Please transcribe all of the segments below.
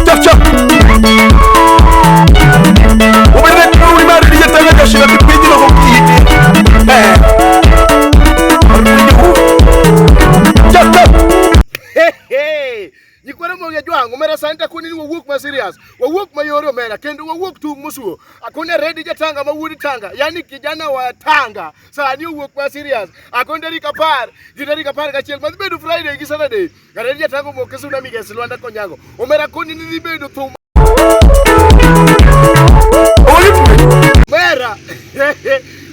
Chapcha. Ubirine kiuli mari diye tanga kashira kipindi na kumkiti. Eh. Arudi huu. Chapcha. nyikwere mo ngejwang omera santa kuni ni wawuok ma serious wawuok ma yore omera kendo wawuok tung musuo akone redi jatanga ma wuod tanga yani kijana wa tanga sani owuok ma serious akone tarik apar gi tarik apar gachiel madhi bedo friday gi saturday Garedi atango moke suna migesi Lwanda Konyango. Omera koni ni libedo thum. Mera.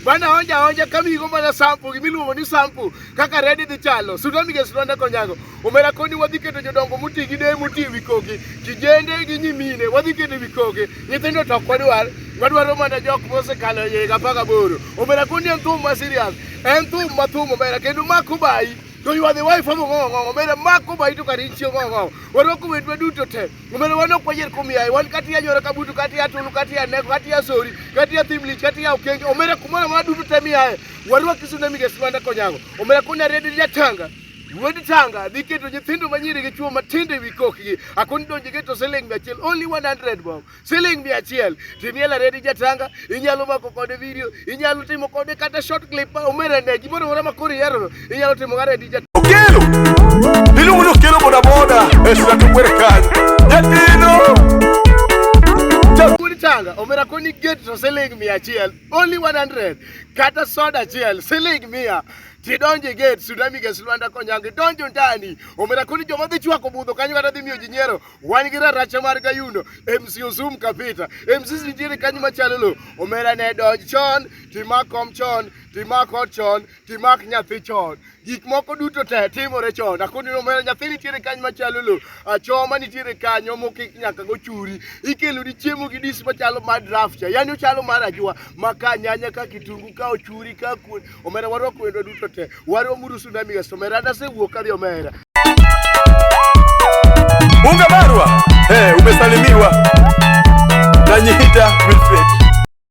Bana honja honja kami go mana sampu gimi luongo ni sampu kaka redi dhi chalo. Suna migesi Lwanda Konyango. Omera koni wadhi keto jodongo muti gi dee muti wikogi. Kijende gi nyimine wadhi keto wikogi. Nyithindo to kwadwar wadwaro mana jok mosekalo yega paka boro. Omera koni en thum ma serious. En thum ma thum omera kendo makubai. To you are the wife of go go go. Mera mako ba itu kari chio go go. Waro ku wetu du to te. Mera wano kwa jer kumi ai. Wan kati ya nyora kabutu kati ya tulu kati ya neko kati ya sori kati ya timli kati ya ukenge. Omera kumona ma du to te mi ai. Waro kisu na mi ke swanda ko nyago. Omera kuna redi ya tanga. Wedi tanga di keto nyithindo manyiri gi chuo matindo e wi kokgi. Akoni donje keto seleng achiel only 100 bob. siling mia achiel timiel aredi jatanga inyalo mako kode video inyalo timo kode kata short clip ma omera ne gimoro mora ma kori yaro inyalo timo kare di jatanga okelo iluongo ni okelo boda boda e sura to kwere kanyo jatino changa omera koni gate to siling mia achiel only 100 kata soda achiel siling mia tidonje gate sudami gas lwanda konyangi donjo ndani omera koni joma dhi chwako budho kanyo kata dhi miyo ji nyiero wan gi raracha mar kayundo MC Osum Kapita MC nitiere kanyo machalo lo omera ne donj chon timak kom chon timak ot chon timak nyathi chon gik moko duto te timore chon akoni omera nyathi nitiere kanyo machalo lo achoma nitiere kanyo mokik nyaka go churi ikelo ni chiemo gi dis machalo mar draft yani ochalo mar ajwa maka nyanya ka kitungu ka ochuri ka kuon omera warwako wendo duto te waromuru sunami gasto omera nasewuok kadhi omera Bunga Marwa, hey, eh, umesalimiwa na Nyihita Wilfred.